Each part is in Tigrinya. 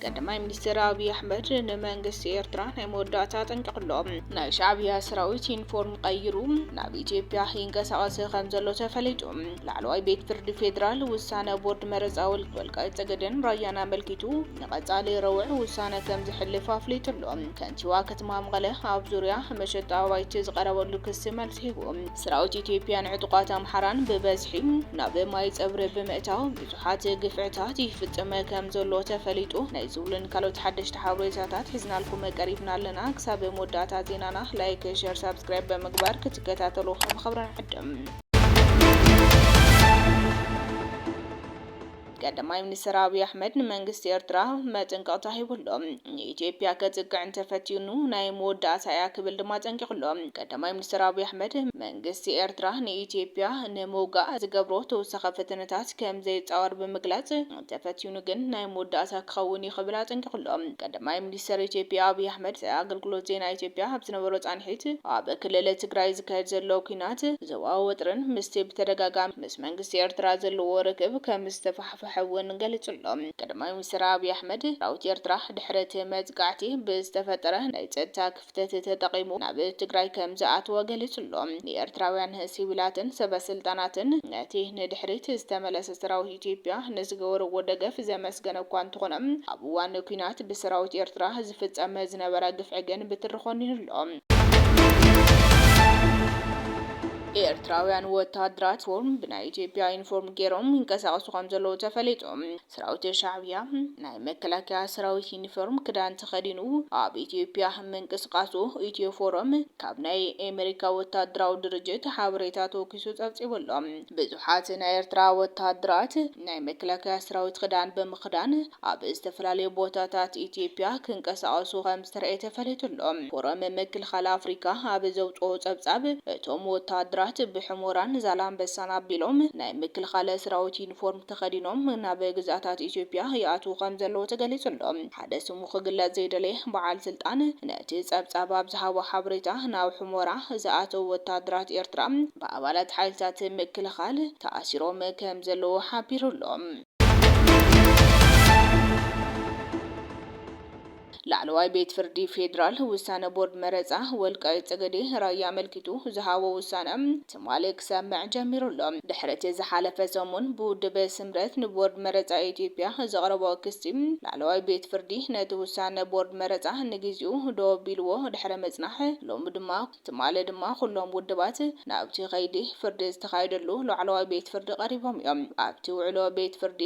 ቀዳማይ ሚኒስትር ኣብዪ ኣሕመድ ንመንግስቲ ኤርትራ ናይ መወዳእታ ጠንቀቕሎ ናይ ሻዕብያ ሰራዊት ዩኒፎርም ቀይሩ ናብ ኢትዮጵያ ይንቀሳቐስ ከም ዘሎ ተፈሊጡ። ላዕለዋይ ቤት ፍርዲ ፌዴራል ውሳነ ቦርድ መረፃ ወልቃይት ፀገዴን ራያን ኣመልኪቱ ንቀፃሊ ረቡዕ ውሳነ ከምዘሕልፍ ኣፍሊጡ ኣሎ። ከንቲባ ከተማ መቐለ ኣብ ዙርያ መሸጣ ኣባይቲ ዝቐረበሉ ክሲ መልሲ ሂቡ። ሰራዊት ኢትዮጵያን ዕጡቓት ኣምሓራን ብበዝሒ ናብ ማይ ፀብሪ ብምእታው ብዙሓት ግፍዕታት ይፍፅም ከምዘሎ ተፈሊጡ። ናይ ዝብሉን ካልኦት ሓደሽቲ ሓበሬታታት ሒዝናልኩም ቀሪብና ኣለና። ክሳብ መወዳእታ ዜናና ላይክ፣ ሸር፣ ሳብስክራይብ ብምግባር ክትከታተሉ ብኽብሪ ንዕድም። ቀዳማይ ሚኒስተር ኣብይ ኣሕመድ ንመንግስቲ ኤርትራ መጠንቀቕታ ሂቡ'ሎ። ንኢትዮጵያ ከጥቅዕ እንተፈቲኑ ናይ መወዳእታ'ያ ክብል ድማ ኣጠንቂቑ'ሎ። ቀዳማይ ሚኒስተር ኣብይ ኣሕመድ፣ መንግስቲ ኤርትራ ንኢትዮጵያ ንምውጋእ ዝገብሮ ተወሳኺ ፈተነታት ከምዘይጻወር ብምግላጽ፣ እንተፈቲኑ ግን ናይ መወዳእታ ክኸውን'ዩ ክብል ኣጠንቂቑ'ሎ። ቀዳማይ ሚኒስተር ኢትዮጵያ ኣብይ ኣሕመድ ምስ ኣገልግሎት ዜና ኢትዮጵያ ኣብ ዝነበሮ ጻንሒት፣ ኣብ ክልል ትግራይ ዝካየድ ዘሎ ኲናት፣ ዞባዊ ወጥሪን ምስቲ ብተደጋጋሚ ምስ ምስ መንግስቲ ኤርትራ ዘለዎ ርክብ ከምዝተፋሕፈሐ እውን ገሊጹ'ሎ። ቀዳማይ ሚኒስተር ኣብይ ኣሕመድ፣ ሰራዊት ኤርትራ ድሕሪ እቲ መጥቃዕቲ ብዝተፈጠረ ናይ ጸጥታ ክፍተት ተጠቒሙ ናብ ትግራይ ከምዝኣተወ ገሊጹ'ሎ። ንኤርትራውያን ሲቪላትን ሰበስልጣናትን ነቲ ንድሕሪት ዝተመለሰ ሰራዊት ኢትዮጵያ ንዝገበርዎ ደገፍ ዘመስገነ እኳ እንተኾነ፣ ኣብ እዋን ኲናት ብሰራዊት ኤርትራ ዝፍፀም ዝነበረ ግፍዒ ግን ብትሪ ኾኒኑ ኣሎ። ኤርትራውያን ወታሃደራት ፎርም ብናይ ኢትዮጵያ ዩኒፎርም ጌሮም ይንቀሳቀሱ ከምዘለዉ ተፈሊጡ። ሰራዊት ሻዕብያ ናይ መከላከያ ሰራዊት ዩኒፎርም ክዳን ተኸዲኑ ኣብ ኢትዮጵያ ምንቅስቃሱ ኢትዮ ፎረም ካብ ናይ ኤመሪካ ወታሃደራዊ ድርጅት ሓበሬታ ተወኪሱ ፀብፂቡ ኣሎ። ብዙሓት ናይ ኤርትራ ወተሃደራት ናይ መከላከያ ሰራዊት ክዳን ብምኽዳን ኣብ ዝተፈላለዩ ቦታታት ኢትዮጵያ ክንቀሳቐሱ ከምዝተርኣየ ተፈሊጡ ኣሎ። ፎረም ምክልኻል ኣፍሪካ ኣብ ዘውጽኦ ጸብጻብ እቶም ወተሃደራት ብሑሞራን ዛላንበሳን ኣቢሎም ናይ ምክልኻል ሰራዊት ዩኒፎርም ተኸዲኖም ናብ ግዝኣታት ኢትዮጵያ ይኣትዉ ከምዘለዉ ተገሊጹ ኣሎ። ሓደ ስሙ ክግለጽ ዘይደለየ በዓል ስልጣን ነቲ ጸብጻብ ኣብ ዝሃቦ ሓበሬታ፣ ናብ ሑመራ ዝኣተዉ ወተሃደራት ኤርትራ ብኣባላት ሓይልታት ምክልኻል ተኣሲሮም ከምዘለዉ ሓቢሩ ኣሎ። ላዕለዋይ ቤት ፍርዲ ፌዴራል፣ ውሳነ ቦርድ መረጻ ወልቃይት ጸገዴ ራያ ኣመልኪቱ ዝሃቦ ውሳነ፣ ትማሊ ክሰምዕ ጀሚሩ ኣሎ። ድሕሪ'ቲ ዝሓለፈ ሰሙን ብውድብ ስምረት ንቦርድ መረጻ ኢትዮጵያ ዘቕረቦ ክሲ፣ ላዕለዋይ ቤት ፍርዲ ነቲ ውሳነ ቦርድ መረጻ ንግዚኡ ደው ኣቢልዎ ድሕሪ ምጽናሕ፣ ሎሚ ድማ ትማሊ ድማ ኩሎም ውድባት ናብቲ ከይዲ ፍርዲ ዝተኻየደሉ ላዕለዋይ ቤት ፍርዲ ቀሪቦም እዮም። ኣብቲ ውዕሎ ቤት ፍርዲ፣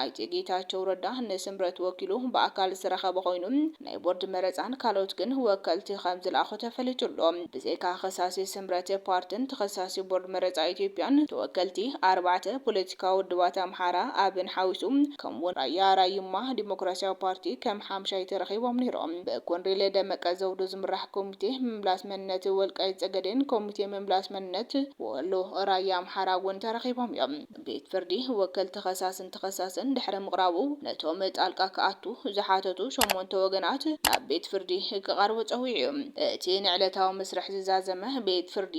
ኣይተ ጌታቸው ረዳ ንስምረት ወኪሉ ብኣካል ዝተረኸበ ኮይኑ፣ ናይ ቦርድ መረፃን ካልኦት ግን ወከልቲ ከምዝልኣኹ ተፈሊጡ ኣሎ። ብዘይካ ከሳሲ ስምረት ፓርትን ተኸሳሲ ቦርድ መረፃ ኢትዮጵያን ተወከልቲ ኣርባዕተ ፖለቲካዊ ውድባት ኣምሓራ፣ ኣብን ሓዊሱ ከምኡ ውን ራያ ራዩማ ዲሞክራሲያዊ ፓርቲ ከም ሓምሻይ ተረኺቦም ነይሮም። ብኮንሬል ደመቀ ዘውዱ ዝምራሕ ኮሚቴ ምምላስ መንነት ወልቃይት ፀገዴን ኮሚቴ ምምላስ መንነት ወሎ ራያ ኣምሓራ ውን ተረኺቦም ዮም። ቤት ፍርዲ ወከልቲ ከሳስን ተኸሳስን ድሕሪ ምቕራቡ ነቶም ጣልቃ ክኣቱ ዝሓተቱ ሸሞንተ ወገናት ናብ ቤት ፍርዲ ክቐርቡ ጸዊዑ። እቲ ንዕለታዊ መስርሕ ዝዛዘመ ቤት ፍርዲ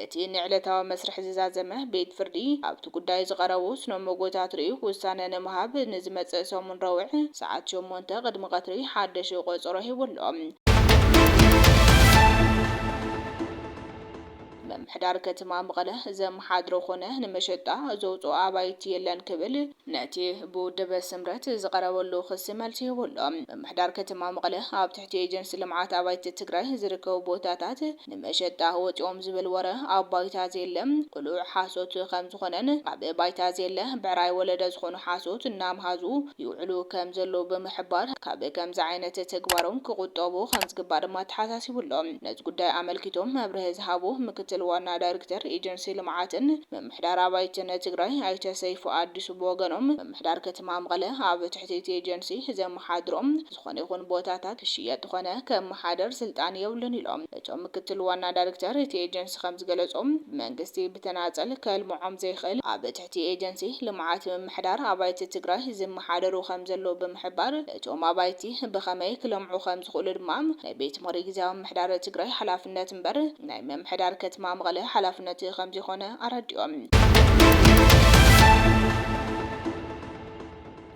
እቲ ንዕለታዊ መስርሕ ዝዛዘመ ቤት ፍርዲ ኣብቲ ጉዳይ ዝቐረቡ ስነ-ሞጎታት ርእዩ ውሳነ ንምሃብ ንዝመጽእ ሰሙን ረቡዕ ሰዓት ሸሞንተ ቅድሚ ቀትሪ ሓደሽ ቆጸሮ ሂቡ ኣሎ። ምምሕዳር ከተማ መቐለ ዘመሓድሮ ኮነ ንመሸጣ ዘውፅኦ ኣባይቲ የለን ክብል ነቲ ብውድብ ስምረት ዝቐረበሉ ክሲ መልሲ ሂቡ ኣሎ። ምምሕዳር ከተማ መቐለ ኣብ ትሕቲ ኤጀንሲ ልምዓት ኣባይቲ ትግራይ ዝርከቡ ቦታታት ንመሸጣ ወፂኦም ዝብል ወረ ኣብ ባይታ ዘየለ ቅሉዕ ሓሶት ከም ዝኾነን ኣብ ባይታ ዘየለ ብዕራይ ወለደ ዝኾኑ ሓሶት እናምሃዙ ይውዕሉ ከም ዘለዉ ብምሕባር ካብ ከምዚ ዓይነት ተግባሮም ክቑጠቡ ከም ዝግባእ ድማ ኣተሓሳሲቡ ኣሎ። ነዚ ጉዳይ ኣመልኪቶም መብርሂ ዝሃቡ ምክትል ዋና ዳይርክተር ኤጀንሲ ልምዓትን ምምሕዳር ኣባይትን ትግራይ ኣይተ ሰይፉ ኣዲሱ ብወገኖም ምምሕዳር ከተማ መቐለ ኣብ ትሕቲ እቲ ኤጀንሲ ዘመሓድሮም ዝኾነ ይኹን ቦታታት ክሽየጥ ኾነ ክመሓደር ስልጣን የብሉን ኢሎም። እቶም ምክትል ዋና ዳሪክተር እቲ ኤጀንሲ ከምዝገለፁ፣ መንግስቲ ብተናፀል ከልምዖም ዘይኽእል ኣብ ትሕቲ ኤጀንሲ ልምዓት ምምሕዳር ኣባይቲ ትግራይ ዝመሓደሩ ከምዘለዉ ብምሕባር እቶም ኣባይቲ ብኸመይ ክለምዑ ከምዝኽእሉ ድማ ናይ ቤት ምኽሪ ግዚያዊ ምምሕዳር ትግራይ ሓላፍነት እምበር ናይ ምምሕዳር ከትማ መቐለ ሓላፍነት ከምዘይኾነ ኣረዲኦም።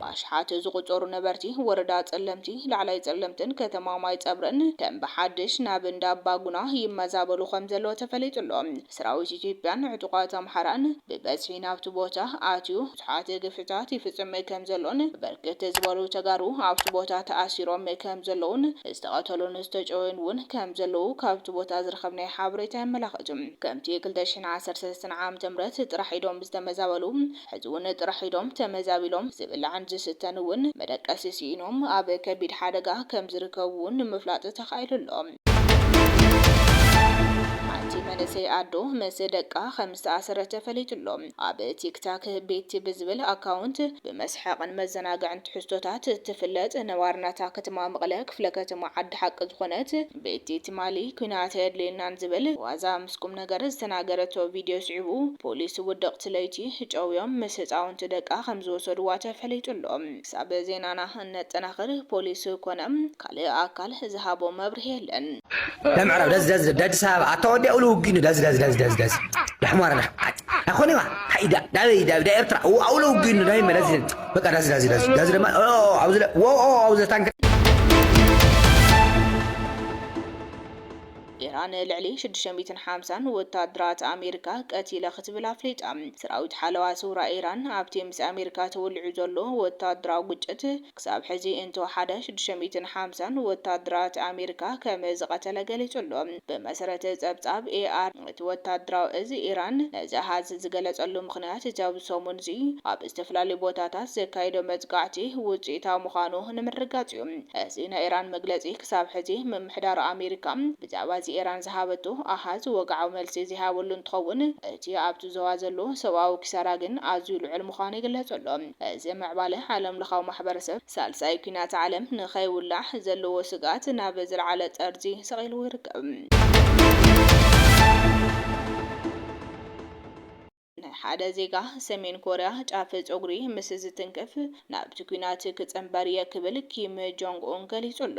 ብኣሽሓት ዝቑጸሩ ነበርቲ ወረዳ ጸለምቲ፣ ላዕላይ ጸለምትን ከተማ ማይጸብሪን ከም ብሓድሽ ናብ እንዳ ኣባጉና ይመዛበሉ ከምዘለዉ ተፈሊጡ ኣሎ። ሰራዊት ኢትዮጵያን ዕጡቓት ኣምሓራን ብበዝሒ ናብቲ ቦታ ኣትዩ ብዙሓት ግፍዕታት ይፍጽም ከምዘሎን ብርክት ዝበሉ ተጋሩ ኣብቲ ቦታ ተኣሲሮም ከምዘለዉን ዝተቐተሉን ዝተጨወዩን እውን ከምዘለዉ ካብቲ ቦታ ዝረኸብናዮ ሓበሬታ የመላኽት። ከምቲ ክልተ ሽሕን ዓሰርተ ሰለስተን ዓመተ ምህረት ጥራሕ ኢዶም ዝተመዛበሉ ሕዚ'ውን ጥራሕ ኢዶም ተመዛቢሎም፣ ዝብላዕን ዝስተን እውን መደቀሲ ስኢኖም ኣብ ከቢድ ሓደጋ ከምዝርከቡ'ውን ንምፍላጥ ተኻኢሉ ኣሎ። ሓንቲ መንእሰይ ኣዶ ምስ ደቃ ከምዝተኣሰረት ተፈሊጡ ኣሎ። ኣብ ቲክታክ ቤቲ ብዝብል ኣካውንት ብመስሓቕን መዘናግዕን ትሕዝቶታት እትፍለጥ ነባሪ ናታ ከተማ መቐለ ክፍለ ከተማ ዓዲ ሓቂ ዝኾነት፣ ብቲ ትማሊ ኲናት ኣየድልየናን ዝብል ዋዛ ምስ ቁምነገር ዝተናገረቶ ቪድዮ ስዒቡ፣ ፖሊስ ውድቕቲ ለይቲ ጨውዮም ምስ ህፃውንቲ ደቃ ከምዝወሰዱዋ ተፈሊጡ ኣሎ። ክሳብ ዜናና እነጠናኽር ፖሊስ ኮነ ካልእ ኣካል ዝሃቦ መብርሂ የለን። ለምዕራብ ደዝ ደዝ ደድ ኣዲስ ኣበባ ኣታ ወዲ ኣውሊ ውግእ እንድዩ ደዝ ደዝ ደዝ ደዝ ደዝ ዳሕማር ዳሕማር ኣይኮነይ ዳበይ ዳበይ ዳኤርትራ ኣውለ ውግእ እንድዩ ናይ መለስ ዜናዊ በቃ ዳዚ ዳዚ ዳዚ ዳዚ ደማ ኦ ኣብዚ ለ- ዎ ኦ ኣብዚ ታንክ ኢራን ልዕሊ ሽዱሽተ ሚእትን ሓምሳን ወተሃደራት ኣሜሪካ ቀቲለ ክትብል ኣፍሊጣ። ሰራዊት ሓለዋ ስውራ ኢራን ኣብቲ ምስ ኣሜሪካ ተወሊዑ ዘሎ ወተሃደራዊ ግጭት ክሳብ ሕዚ እንተወሓደ ሽዱሽተ ሚእትን ሓምሳን ወተሃደራት ኣሜሪካ ከም ዝቐተለ ገሊጹ'ሎ። ብመሰረት ጸብጻብ ኤ። እቲ ወተሃደራዊ እዚ ኢራን ነዚ ኣሃዝ ዝገለጸሉ ምኽንያት እቲ ኣብዚ ሰሙን'ዚ ኣብ ዝተፈላለዩ ቦታታት ዘካየዶ መጥቃዕቲ ውጽኢታዊ ምዃኑ ንምርግጋጽ እዩ። እዚ ናይ ኢራን መግለጺ ክሳብ ሕዚ ምምሕዳር ኣሜሪካ ብዛዕባ እዚ ኢራን ዝሃበቶ ኣሃዝ ወግዓዊ መልሲ ዘይሃበሉ እንትኸውን እቲ ኣብቲ ዞባ ዘሎ ሰብኣዊ ኪሳራ ግን ኣዝዩ ልዑል ምዃኑ ይግለጽ ኣሎ። እዚ ምዕባለ ዓለምለኻዊ ማሕበረሰብ ሳልሳይ ኲናት ዓለም ንኸይውላዕ ዘለዎ ስግኣት ናብ ዝለዓለ ጠርዚ ሰቒልዎ ይርከብ። ሓደ ዜጋ ሰሜን ኮርያ ጫፍ ጸጉሪ ምስ ዝትንክፍ ናብቲ ኲናት ክጽንበር እየ ክብል ኪም ጆንግ ኡን ገሊጹ ኣሎ።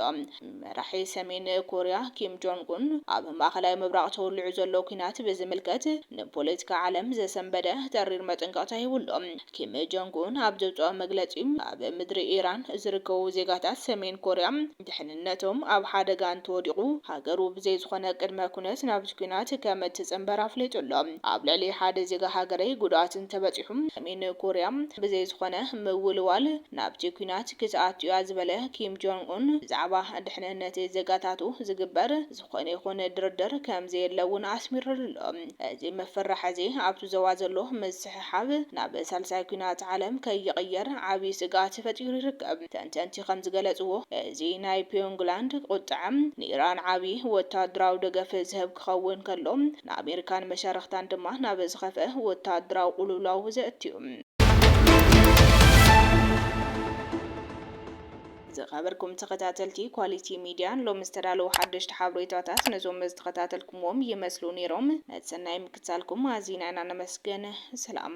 መራሒ ሰሜን ኮርያ ኪም ጆንግ ኡን ኣብ ማእከላይ ምብራቕ ተወሊዑ ዘሎ ኲናት ብዝምልከት ንፖለቲካ ዓለም ዘሰንበደ ተሪር መጠንቀቕታ ሂቡ ኣሎ። ኪም ጆንግ ኡን ኣብ ዘውጽኦ መግለጺ፣ ኣብ ምድሪ ኢራን ዝርከቡ ዜጋታት ሰሜን ኮርያ፣ ድሕንነቶም ኣብ ሓደጋ እንተወዲቑ ሃገሩ ብዘይ ዝኾነ ቅድመ ኩነት ናብቲ ኲናት ከም እትጽንበር ኣፍሊጡ ኣሎ። ኣብ ልዕሊ ሓደ ዜጋ ሃገረይ ጉድኣት እንተበጺሑ ሰሜን ኮርያ ብዘይ ዝኾነ ምውልዋል ናብቲ ኲናት ክትኣቱ'ያ ዝበለ ኪም ጆንግ ኡን ብዛዕባ ድሕንነት ዜጋታቱ ዝግበር ዝኾነ ይኹን ድርድር ከም ዘየለ እውን ኣስሚርሉ ኣሎ። እዚ ምፍርራሕ እዚ ኣብቲ ዞባ ዘሎ ምስሕሓብ ናብ ሳልሳይ ኲናት ዓለም ከይቕየር ዓብዪ ስግኣት ፈጢሩ ይርከብ። ተንተንቲ ከም ዝገለጽዎ፣ እዚ ናይ ፒዮንግላንድ ቁጥዐ ንኢራን ዓብዪ ወተሃደራዊ ደገፍ ዝህብ ክኸውን ከሎ፣ ንኣሜሪካን መሻርኽታን ድማ ናብ ዝኸፍአ ወተሃደራዊ ቁልውላው ዘእቱ እዩ። ዝኸበርኩም ተኸታተልቲ ኳሊቲ ሚድያ ንሎሚ ዝተዳለዉ ሓደሽቲ ሓብሬታታት ነዞም ዝተኸታተልኩምዎም ይመስሉ ነይሮም። ነቲ ሰናይ ምክትታልኩም ኣዚና ኢና ነመስግን። ሰላም።